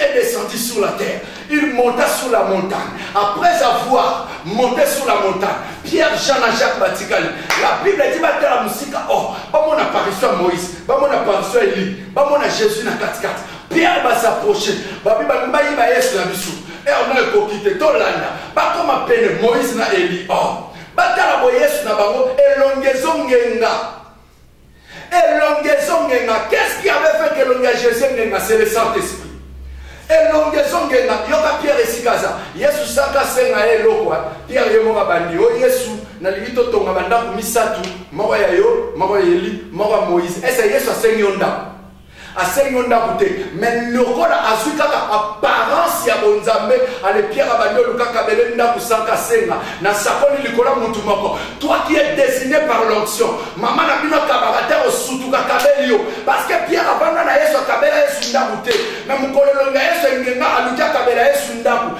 est descendu sur la terre. Il monta sur la montagne. Après avoir monté sur la montagne, Pierre, Jean, Jacques Batikali. La Bible dit Batala Moussika. Oh, Bamon apparition à Moïse, Bamon apparition à Élie, Bamon à Jésus na 4 4. Pierre va s'approcher. Babi Bambayi va être la bisou. Et on a coquité. Tolanda. Bakoma bah, peine Moïse na Élie. Oh. Batala Yesu na bango elongezo ngenga. elongi ezongenga qu'est ce qui avait fait que elongi ya jésus engenga c'est le saint esprit elongi ezongenga yoka pierre esika aza yesu saka asenga ye eloko pierre ye moko abandi o yesu nalingi totonga bandako misato moko ya yo moko ya eli moko ya moïse ese yesu asengi yo ndako asengi yo ndako te me lokola azwi kaka apparence ya bonzambe alepiaka bandi olukaka bele ndako sanka asenga na sakoli likolo motu moko toi qui est dessiné par l'onction mama na bino akabaka te osutuka kabeli yo parce que pierre avanda na yesu akabela yesu ndako te me mokolo elonga yesu engenga aluki akabela yesu ndako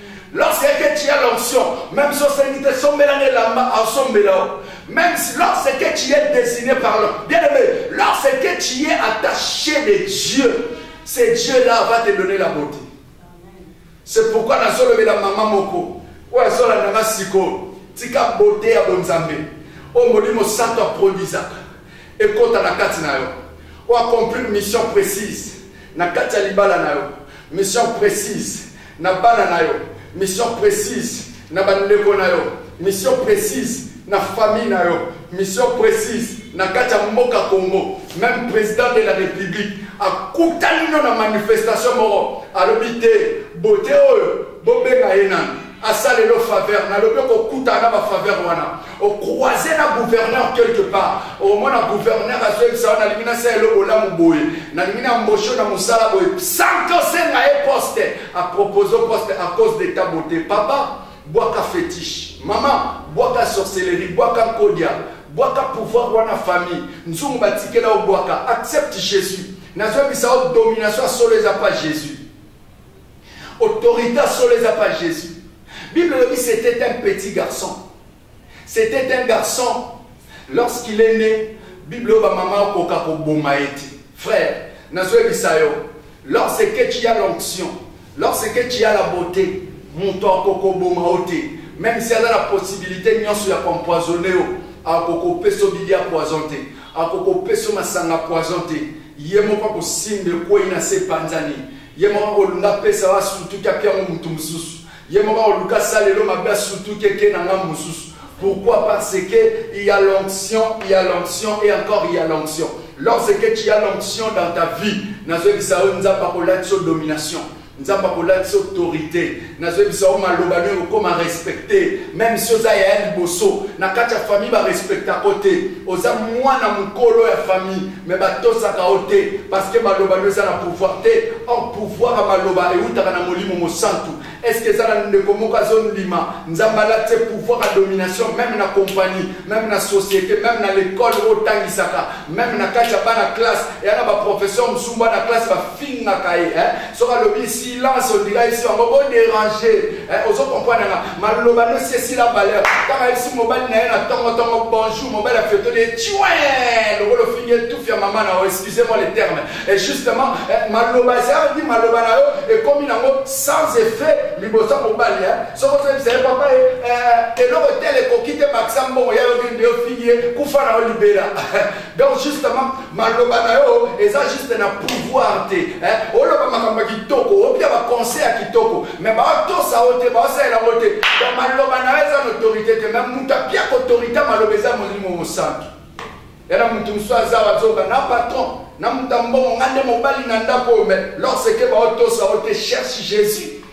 Lorsque tu as l'onction, même si on te sombela ne lamba, en sombela. Même si lorsque tu es désigné par l'homme, bien aimé, lorsque tu es attaché de Dieu, ce Dieu-là va te donner la beauté. C'est pourquoi dans solo la maman moko, ou la solo la maman siko, tika beauté à bonzambe, au molimo santo produisa, et quand à la carte na yo, ou accomplir une mission précise, na carte libala na yo, mission précise, na bana na yo mission précise na bandeko na yo mission précise na famille na yo mission précise na kati ya mboka congo même président de la république akutani no na manifestation moko alobi te bote oyo bobenga ye nani asala elo faveur nalobi okokutana na bafaveur wana au croiser na gouverneur quelque part au moins na gouverneur azoyebisa wana nalingi nasala eloko olamu boye nalingi na embauche na mosala boye sans que osenga ye poste apropose poste à cause de ta beauté papa bwaka fétiche mama bwaka sorcellerie bwaka nkodia bwaka pouvoir wana famille nzungu batikela obwaka accepte jésus nazoyebisa o domination ya solo eza pa jésus Autorité ya solo eza pa Jésus. Bible elobi c'était un petit garçon. C'était un garçon lorsqu'il est né. Bible oyo bamama okoka koboma ye te. Frère, nazoyebisa yo, lorsque tu as l'onction, lorsque tu as la beauté, moto akokoboma yo te. Même si aza na possibilité nyonso ya koempoisonne yo, akokopesa yo bilia poison te, akokopesa yo masanga poison te, ye moko akosimba ekwei na se epanzani Ye moko akolunga apesa wa sutuki apiango moto mosusu. Ye moko akoluka asala lelo mabe asutuki eke na ngambo mosusu. Pourquoi Parce que il y a l'onction, il y a l'onction et encore il y a l'onction. Lorsque tu as l'onction dans ta vie, nazoyebisa yo Nzambe akolakisa yo domination. Nzambe akolakisa autorité. nazoyebisa yo maloba nde okoma respecte meme si oza yaya liboso na kati ya famille barespectaka yo te oza mwana mokolo ya famille me batosaka yo te parceke maloba nde eza na pouvoir te or pouvoir ya maloba eutaka na molimo mosantu estce eza na ndeko moko azondima nzambe alati pouvoir ya domination meme na compagnie meme na société meme na lekole otangisaka meme na kati ya bana classe eya na baprofesseur mosusu bana classe bafingaka ye eh? soki alobi silence ondika esi yango bo dérange eh, ozo comprendre nga maloba no si esila valeur ntango ayebisi mobali na ye na tongotongo bonjour mobali afetoli ye ciwe lokola ofingi etufi ya mama na yo excusez moi le terme et justement eh, maloba ezalaki maloba na yo ekomi nango sans effet liboso mobali eh. soki ozobisa ye papa ye eloko tele ekoki te bakisa mbongo ya yo kende ofingi ye kufa na yo libela donc justement maloba na yo eza juste na pouvoir te oloba makambo ya kitoko opia baconseil ya kitoko mais baotosa yo te baosalela yango te donc maloba na yo eza na autorité te mais moto apiaka autorité maloba eza molimo mosantu yana moto mosusu aza bazoba na patron na moto ya mbongo nga nde mobali na ndako oyo mais lorseke baotosa yo te cherche jésus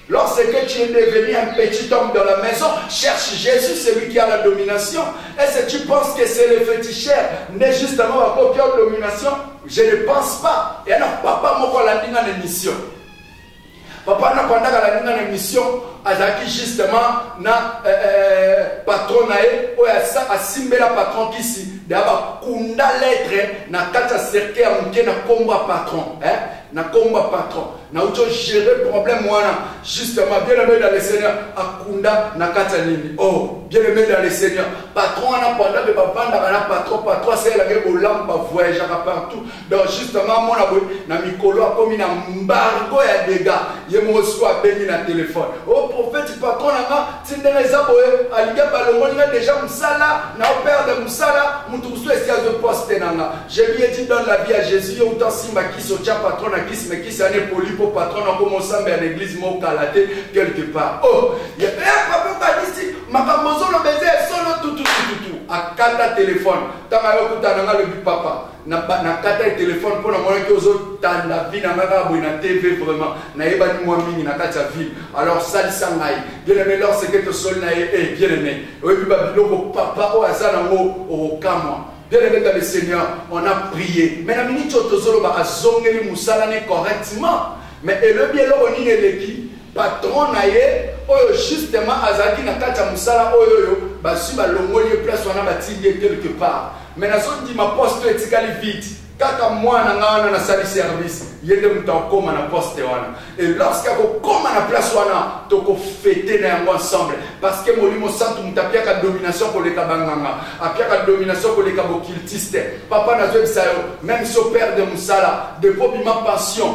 Lorsque tu es devenu un petit homme dans la maison, cherche Jésus, celui qui a la domination. Est-ce que tu penses que c'est le féticheur, mais justement la copie domination Je ne pense pas. Et alors, papa, moi, la ligne en émission. Papa, n'a pas la ligne en émission, azalaki justement na euh, euh, patron na ye oyo asimbela patron kisi deya bakunda lettre na kati ya cercueil ya moke na nkombo ya patron eh? na nkombo ya patron nauti ogere problème wana justement bien aimé dans le seigneur akunda na kati ya nini o oh, bien aimé dans le seigneur patron wana panda mpe bavandaka na patron patron asalelake bolamu bavoyageaka partout donc justement amona boye na mikolo akomi na mbargo ya dega ye moko siko abengi na telefone o oh, prophète patron na nga ti ndenge eza boye alingi balongoli nga deja mosala na operde mosala moto mosusu esi azwi poste na nga je lui ai dit dans la vie ya jésus yo uta simba kisi otya patron na kisi me kisi ana epoli mpo patron na koma osambe ya na église mokala te quelque part o oh, eh, papa badisi makambo ozoloba eza ya solo tututututu akata telefone ntango ayokutana nga lobi papa nakataki telefone mpo namonaki ozotanda vi na ngai kaka boye na tv vraiment nayebani mwa mingi na kati ya ville alors salisa ngai bien aimé lor seke tosoli na ye e eh, bien aimé oyebi babiloko papa oyo aza nango okokamwa bien aimé dans le seigneur on a prié mais na miniti oyo tozoloba azongeli mosala ne correctement mais elobi eloko nini eleki patron na ye oyo justement azalaki na kati ya mosala oyo oyo bazwi balongoli ye place wana batindi ye quelque part mais nazondima poste etikali vide kaka mwana nga wana nasali service ye nde moto akokoma na poste wana e lorsque akokoma na place wana tokofete na yango ensemble parce que molimo santu moto apiaka domination koleka banganga apiaka domination koleka bokiltiste papa nazoyebisa yo meme so père de mosala depo bima pension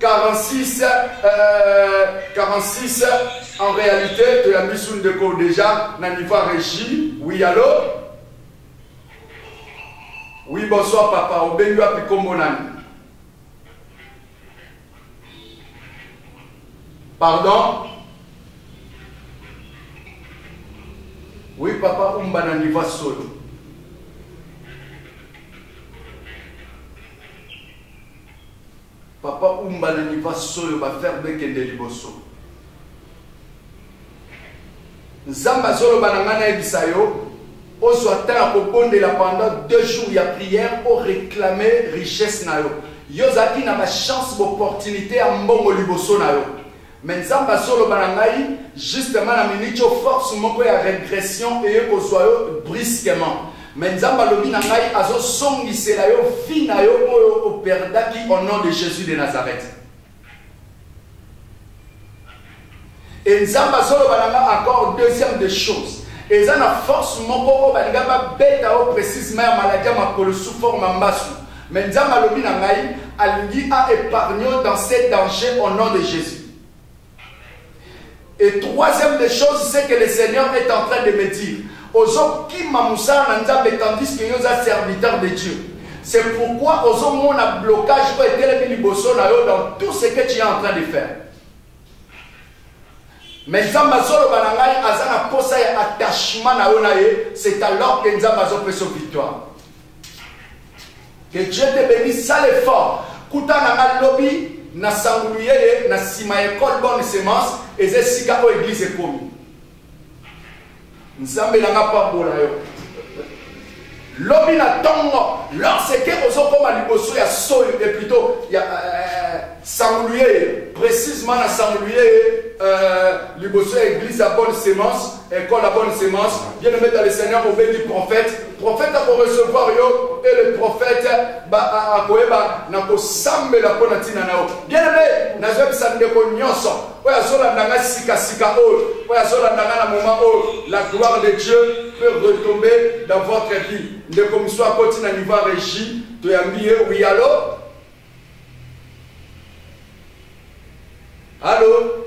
46 euh, 46 en réalité toyambi su ndeko déjà na niveau ya régie oui allo oui bonsoir papa obengi wapi nkombo nani pardon oui papa umba na niveau ya solo Papa umba na niva soyo ba ferre bekende liboso nzambe azoloba na ngai nayebisa yo ozwa temps ya kobondela pendant deux jours ya prière o réclame richesse na yo yo ozalaki na bachance bopportunité ya mbongo liboso na yo Mais Nzambe azoloba na ngai justement na minute yo force moko ya regression eye kozwa yo brusquement. Mais Nzambe alobi na ngai azozongisela yo vie na yo oyo operdaki au nom de Jésus de Nazareth. Et Nzambe azoloba na ngai encore deuxième des choses. eza na force moko oyo balinga babeta yo précisement ya maladi ya makolo sous forme ya mbasu Mais Nzambe alobi na ngai alingi a épargner dans ces dangers au nom de Jésus. Et troisième des choses, c'est que le Seigneur est en train de me dire, Ozo kima moussa na Nzambe tandis que yoza serviteur de Dieu. C'est pourquoi Ozo mon blocage ou etelemi liboso na yo dans tout ce que tu es en train de faire. Mais Nzambe azoloba na ngai aza na posa ya attachement na yo na ye, c'est alors que Nzambe azopesa victoire. Que Dieu te bénisse, sale effort. Kuta na nga lobi na sangulu yeye na sima école bonne semence eza esika oyo église ekomi. Nzambe na nga pambola yo. Lobi na tongo lorsque ozokoma liboso ya solo et plutôt ya euh, sangulu yeye précisément na sangulu yeye euh, liboso ya église ya bonne semence École la bonne semence, bien aimé dans le Seigneur, au du prophète. Prophète a pour recevoir yo et le prophète a koeba na ko sambe la pona tina nao. Bien aimé, na zeb sande ko nyoso. Oya zola nanga sika sika o. Oya zola nanga na moment o. La gloire de Dieu peut retomber dans votre vie. Nde comme soit koti na niveau régie, to yambi e oui allo. Allô?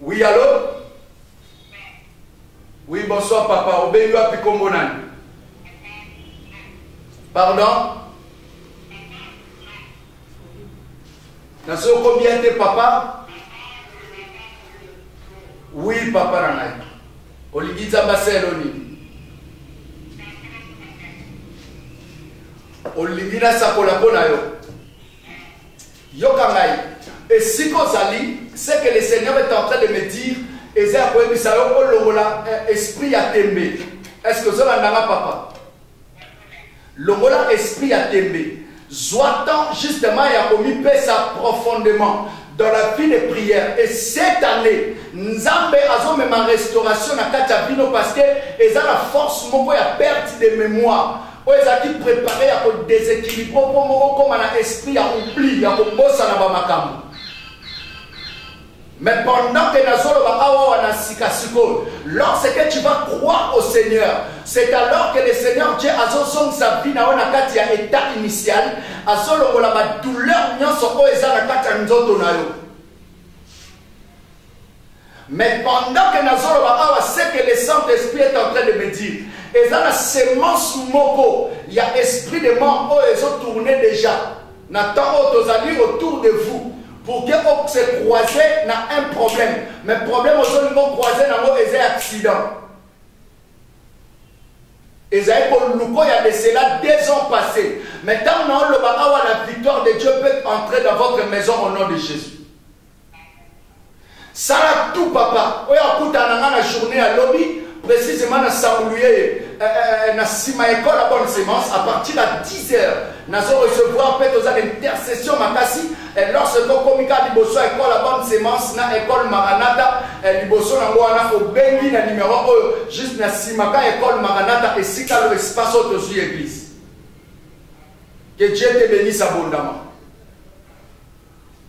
Oui, allô Oui, bonsoir papa. Obengi wapi kombo nani Pardon Na soki okomi bien te papa Oui, papa na ngai. Olingi nzambe aselo nini Olingi nasakola mpo na yo Yoka ngai, esika ozali, ce que le Seigneur est en train de me dire, eza ya koyebisa yo olongola eh, esprit ya tembe. Est-ce que ozolanda nga papa? Longola esprit ya tembe. Zwa temps justement ya komipesa profondément dans la vie de prière. Et cette année, Nzambe azomema restauration na kati ya bino parce que eza na force moko ya perte de mémoire. oyo ezalaki prepare ya kodesekilibre mpo moko koma na esprit ya oubli ya kobosana bamakambo Mais pendant que Nazoloba Awawa na Sika Siko, lorsque tu vas croire au Seigneur, c'est alors que le Seigneur Dieu a son sa vie na ona kati ya état initial, a solo la douleur nionso o eza na kati ya nzoto na yo. Mais pendant que nazoloba awa c'est que le Saint-Esprit est en train de me dire eza na semence moko ya esprit de mort oyo ezo tourner déjà na temps oyo tozali autour de vous pour que o se croiser na un problème mais problème ozolingi ocroiser nango eza ya accident ezali koluko ya de cela deux ans passé mais ntango naoloba awa la victoire de dieu peut entrer dans votre maison au nom de jésus sala tout papa oyo akutana nga na journée ya lobi précisément na samuluyeye eh, eh, eh, na nsima ya ekole ya bonne semence à partir ya 10 heures nazo recevoir mpe toza na intercession makasi lorsque tokomi kaka liboso ya ekole ya bonne semence na ekole maranata liboso nango wana obengi na numero oyo juste na nsima ka ekole maranata esika lo espace oyo tozwi église que dieu te bénisse abondamment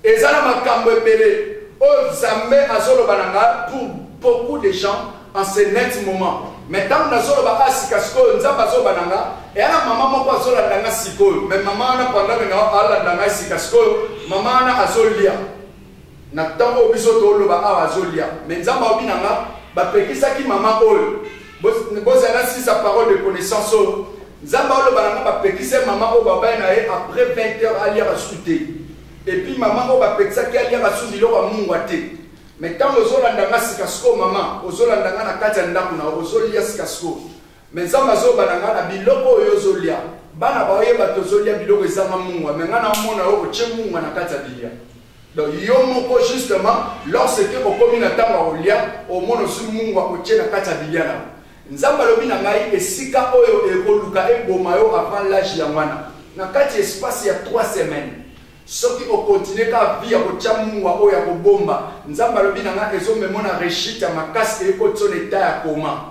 Eza na makambo ebele oyo zambe azoloba na nga pour beaucoup de gens en ce net moment mais ntango nazoloba a ah, sikasikoyo nzambe azoloba na nga eya na mama moko azolanda nga sikoyo mais mama wana pandami na alanda ngai sikasikoyo mama wana azolia na ntango oyo biso toloba awa azolia mais nzambe aobi na nga bapekisaki mama oyo bozala sisa parole de connaissance oyo oh. nzambe aoloba nango bapekisa ye mama oyo babali na ye après 20 heures aliaka su te epuis mama oyo bapekisaki aliaka su biloko ya mungwa te me ntango ozolanda nga sikasiko mama ozolanda nga na kati ya ndako na ozolia sikasiko me nzambe azoba na nga na biloko oyo ozolia bana baoyeba tozolia biloko ezanga mungwa me nga naomona yo otie mungwa na kati ya bilia Donc yo moko justement lorsque okomi na ntango ya kolia omona osi mungu akotie na kati ya bilia na nzambe alobi na ngai esika oyo ekoluka eboma yo avant l'age ya mwana na kati espace ya 3 semaines soki okontinue kaka vi ya kotya mungwa oyo ya kobomba nzambe alobi na ngai ezomemona rechite ya makasi ekotiso na eta ya koma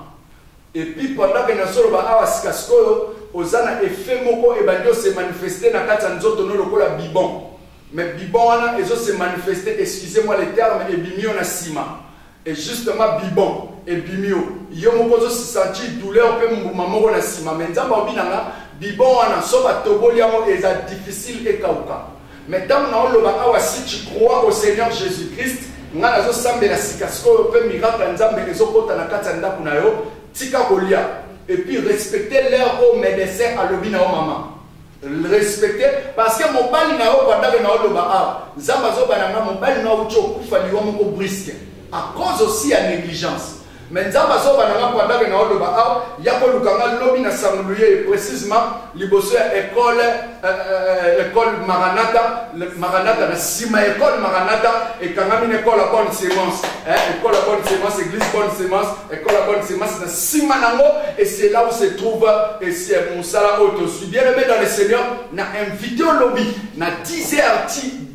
Et puis pendant que nazo loba awa sika sikoyo oza na effet moko ebandi o se manifester na kati ya nzoto no lokola bibon mais bibon wana ezo se manifester excusez moi le terme ebimi yo na sima et justement bibon ebimi yo yo moko ozo se sentir douleur pe mbuma moko na sima mais nzambe alobi na nga bibon wana so batoboli yango eza difficile ekauka Mais tango na oloba awa si tu crois au Seigneur Jésus-Christ, nga nazo sambela sika sikoyo pe miracle ya Nzambe ezo kota na kati ya ndako na yo, tika kolia. Et puis respecter l'heure au médecin alobi na yo maman. Respecter parce que mobali na yo bandako na oloba awa, Nzambe azoba na nga mobali na yo uti okufa liwa moko brisque à cause aussi ya négligence. Mais nzambe azoba na nga pendant que na oloba awa ya koluka nga lobi na sangulu ye précisement liboso ya école euh, euh, école maranata maranata na sima école maranata ekangami na école ya bonne semence eh, école ya bonne semence église bonne semence école ya bonne semence na sima nango et c'est là où se trouve et c'est mosala oyo tozwi bien aimé dans le seigneur na invité olobi na 10 heures ti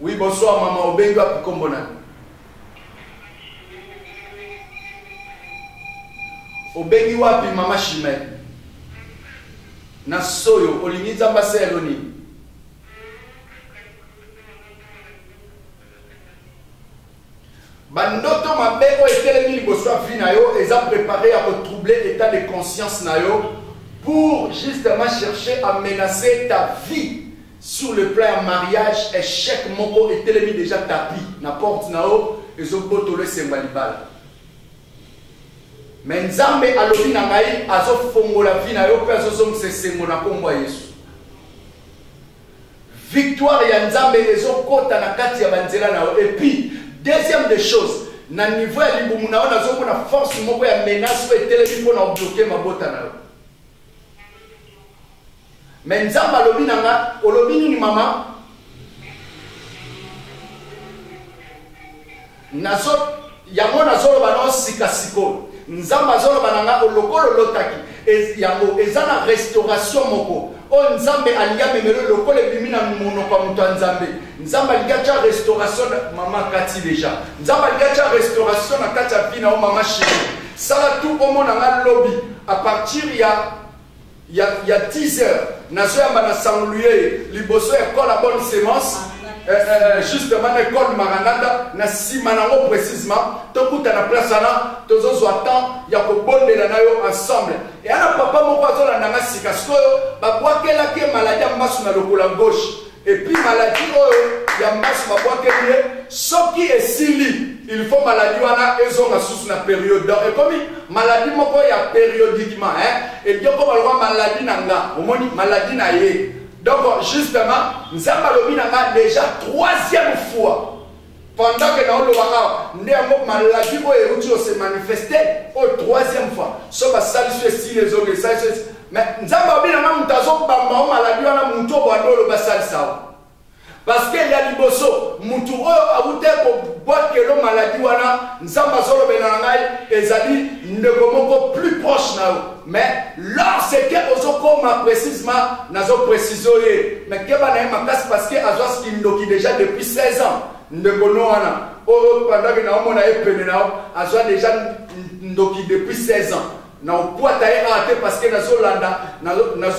Oui, bonsoir maman, obengi wapi kombo na yo? Obengi wapi mama Shimei? Na soyo olingi Nzambe asala yo nini? Bandoto mabe oyo etelemi liboso ya vie na yo eza prepare ya ko troubler etat de conscience na yo pour justement chercher à menacer ta vie sur le plan ya mariage échec moko etelemi déjà tapis na porte na yo ezobotolo esengo ya libala me nzambe alobi na ngai azofongola vi na yo mpe azozongisa esengo na nkombo ya yesu Victoire ya nzambe ezo kota na kati ya ba nzela na yo et puis deuxième des choses na niveau ya libumu na yo nazo mona force moko ya menace oyo etelemi mpo na obloke mabota na yo me nzambe alobi na nga olobi nini mama nazo yango nazoloba nao sika sikoyo nzambe azoloba na ngai olokolo olotaki yango eza na restauration moko oyo nzambe alingi amemelo lokola ebimi na monoko ya moto ya nzambe nzambe alingi atya restauration mama kati deja nzambe alingi atya restauration na kati ya vi na yo mama sheri sala tu omona ngai lobi a partir ya ya, ya teaser nazoyamba na sanguluyeye liboso ya col ya bonne semence eh, eh, eh, justement na ecole maranata na nsima nango précisement tokuta na place wana tozozwa temps ya kobondela na yo ensemble eya na papa moko azolanda nga sika sikoyo babwakelaki ye maladi ya mbasu na lokola gauche Et puis maladie oyo ya mbasi babwakeli ye soki esili il faut maladie wana ezonga susu na periode donc ekomi maladie moko ya periodiquement hein edi okoma lokwa maladie na nga omoni maladie na ye donc justement nzambe alobi na nga déjà troisième fois pendant que naoloba awa nde yango maladi oyo euti ose manifeste oyo troisième fois so basalisi esili ezongi esalisi esi mais nzambe abina na moto azobamba o maladi wana moto oyo bwanda oloba asalisa o parce que ya liboso moto oyo awuta kobwakelo maladi wana nzambe azolobela na ngai ezali ndeko moko plus proche na yo mais lorsque ozokoma précisement nazo précise ye mais keba na ye makasi parce que azwa kindoki déjà depuis 16 ans ndeko no wana oyo pandaki na omona ye pene na yo azwa déjà ndoki depuis 16 ans na opuata ye awa te parce que nazolanda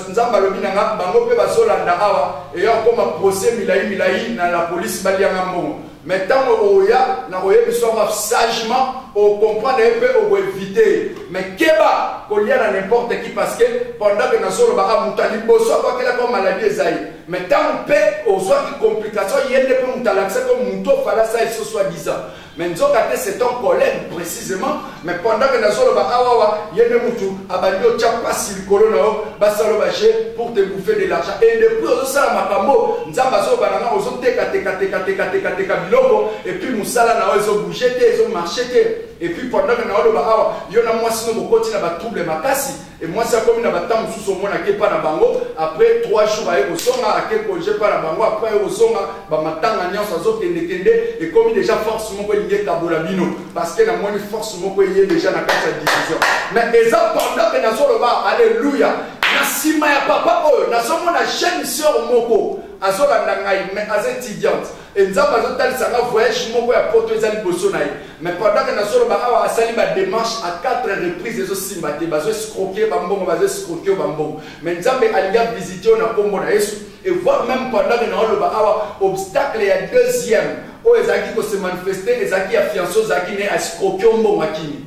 nzambe alobi na nga bango mpe bazolanda awa eya okoma procès milai milai na la polise balianga mbongo Mais ntango okoya na koyebisa yango sagement okomprendre ye mpe okoevite ye mais keba kolia na n'importe qui parce que pendant que nazolobaka moto ya liboso akwakelaka o maladi eza ye mais ntango mpe ozwaki complication ye nde mpe moto alakisaki o moto ofalasa ye so soit disant mais nzoka te c'est ton collègue précisément mais pendant que nazoloba awawa ye nde mutu abandi otya mpasi likolo na yo basalo baje pour te bouffer de l'argent et depuis ozosala makambo nzambe azoloba na nga ozotekatekatekatekatekateka biloko epuis mosala na yo ezobouge te ezomarche te epuis pendant que naoloba awa yo na mwasi no bokoti na batrouble makasi Et moi ça comme na batam sous au mona kepa na bango après 3 jours aye kosonga ake congé pa na bango après aye kosonga ba matanga nyonso azo kende kende et comme déjà force moko elingi ekabola bino parce que na moni force moko eye déjà na kati ya division mais eza pendant que nazoloba alléluia na nsima ya papa oyo nazomona jeune sœur moko azolanda ngai mais aza étudiante Et Nzambe azo talisa nga voyage moko ya poto eza liboso na ye. Mais pendant que nazoloba awa asali ba démarche à quatre reprises ezo simba te bazo escroquer ba mbongo bazo escroquer ba mbongo. Mais Nzambe alingi a visiter yo na kombo na Yesu et voir même pendant que naoloba awa obstacle ya deuxième oyo ezalaki ko se manifester ezalaki ya fiancé ozalaki ne escroquer mbongo akimi.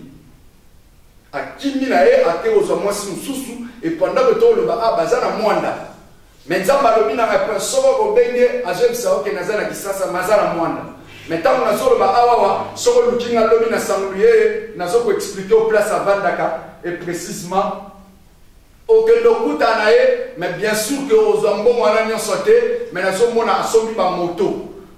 Akimi na ye ake ozwa mwasi mosusu et pendant que toloba awa baza na mwanda Mais nzambe alobi na ngai prince soko obengi ye azoyebisa yo ke naza na kisasa me aza na mwana me ntango nazoloba awawa soko oluki ngai lobi na sangulu yeye nazokoexplike o place avandaka e précisement okende okuta na ye me bien sûr ke ozwa mbongo wana nyonso te me nazomona asombi bamoto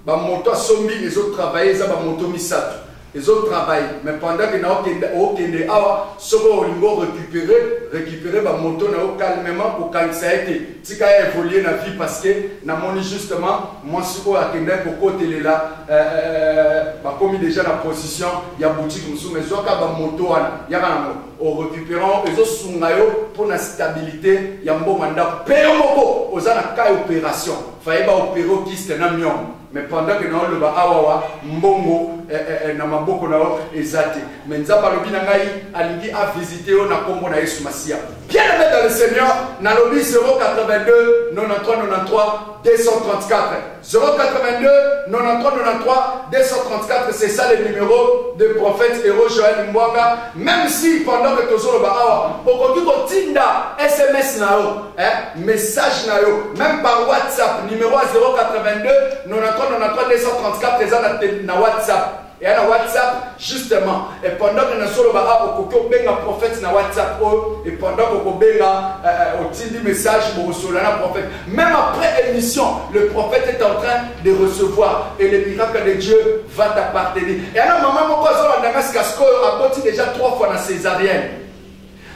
bamoto asombi ezotravaille eza bamoto misato ezo travail mais pendant que nao kende o kende awa soko olingo récupérer récupérer ba moto na yo calmement ko kangisa ete tika ya évoluer na vie parce que na moni justement moi si ko akenda ko kotelela euh, euh, ba komi déjà na position ya boutique musu mais zoka ba moto wana ya kana mo au récupérant ezo sunga yo pour na stabilité ya mboma ndako pe yo moko oza na cas opération faye ba opérer kiste na mion mais pendant que nao loba awa wa mbongo eh, eh, eh, na maboko na yo eza te mais nzambe alobi na ngai alingi avisite yo na nkombo na yesu masiya bien aimé dans le seigneur nalobi 082 93 93 234 082 93 93 234 c'est ça le numéro de prophète héros joël mbwanga même si pendant que tozoloba awa okoki kotinda sms na yo Eh, message na yo même par whatsapp numéro ya 082 99334 eza na whatsapp eya na whatsapp justement et pendant que nasoloba a okoki obenga prophète na whatsapp oyo et pendant que okobenga eh, eh, otindi message bokosolola na prophète même après émission le prophète est en train de recevoir et le miracle de dieu va t'appartenir eya na mama moko azolanda ngai sika sikoyo aboti déjà trois fois na césarienne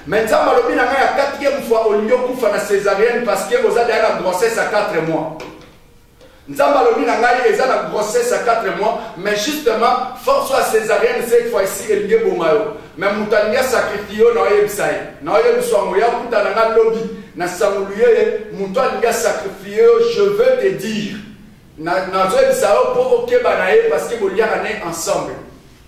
Mais Nzambe alobi na ngai ya quatrième fois olingi okufa na césarienne parce que oza deja na grossesse à 4 mois. Nzambe alobi na ngai eza na grossesse à 4 mois mais justement force ya césarienne cette fois ici elingi eboma yo. Mais moto alingi asakrifie yo na oyebisa ye. Na oyebisa yango ya kuta na ngai lobi na sangulu ye ye moto alingi asakrifie yo je veux te dire. Nazoyebisa yo mpo okeba na ye parce que boliaka na ye ensemble.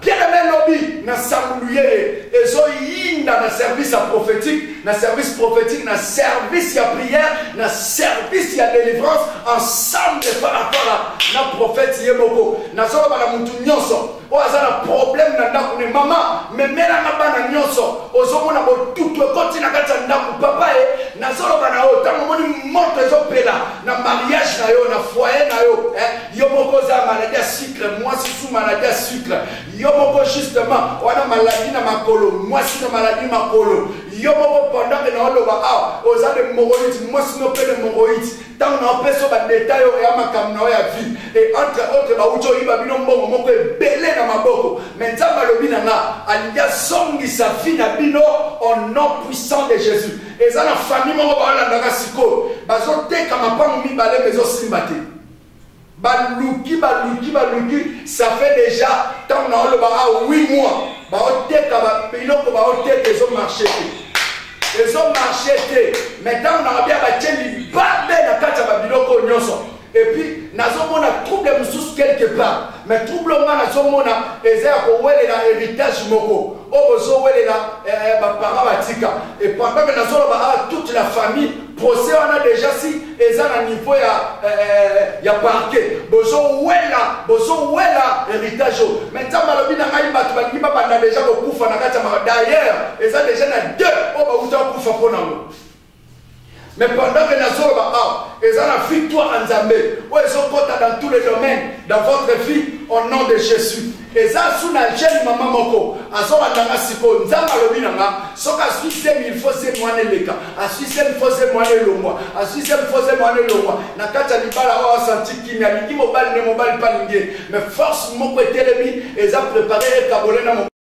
Bien aimé lobi na sango luyeye ezo yinda na service ya prophétique na service prophétique na service ya prière na service ya délivrance ensemble parapara na prophète ye moko nazoloba na motu nyonso oyo aza na problème na ndako ne mama memelanga bana nyonso ozomona botutu ekoti na kati ya ndako papa ye nazoloba na yo ntango omoni moto ezopela na mariage na yo na foyer na yo eh? yo moko oza maladi ya sucre mwasi su maladi ya sucre yo moko justement wana maladi na makolo mwasi na maladi makolo yo moko pendant na oloba awa oza de moroïde mwasi no mpe de moroïde ntango na opesa yo badetail oyo ya makambo na yo ya vie e entre autre bauti oyiba bino mbongo moko ebele na maboko me nzambe alobi na nga alingi azongisa vie na bino au nom puissant de jésus eza na famille moko baolandaka sikoyo bazoteka mapango mibale me ezosimba te baluki baluki baluki ça fait déjà ntango na oloba a 8 mois baoteka biloko baoteka ezo marche te ezo marche te mai ntango na babia batie libabe na kati ya babiloko oyo nyonso epuis nazomona trouble mosusu quelque part mais trouble nga nazomona eza ya kowelela héritage moko oyo bozowelela eh, eh, baparent batika epandame nazoloba awa ah, toute la famille procès wana déjà si eza na niveau ya eh, ya parquet bozowela bozowela héritage oyo mais nzambe alobi na ngai bato balingi babanda deja kokufa na kati ya maka d'ailleurs eza deja na deux oyo bauta kokufa mpo nango mais pendant que nazoloba awa eza na victoire ya nzambe oyo ezokota dans tous les domaines dans votre vie au nom de jésus eza su na jeune mama moko azolanda nga sikoyo nzambe alobi na nga soki asui semi ilfo semi wana eleka asui semi fo semi wana elongwa asui semi fo semi wana elongwa na kati ya libala oyo asanti kimi alingi mobali nde mobali mpe alingi ye mais force moko etelemi eza prépare ekabole na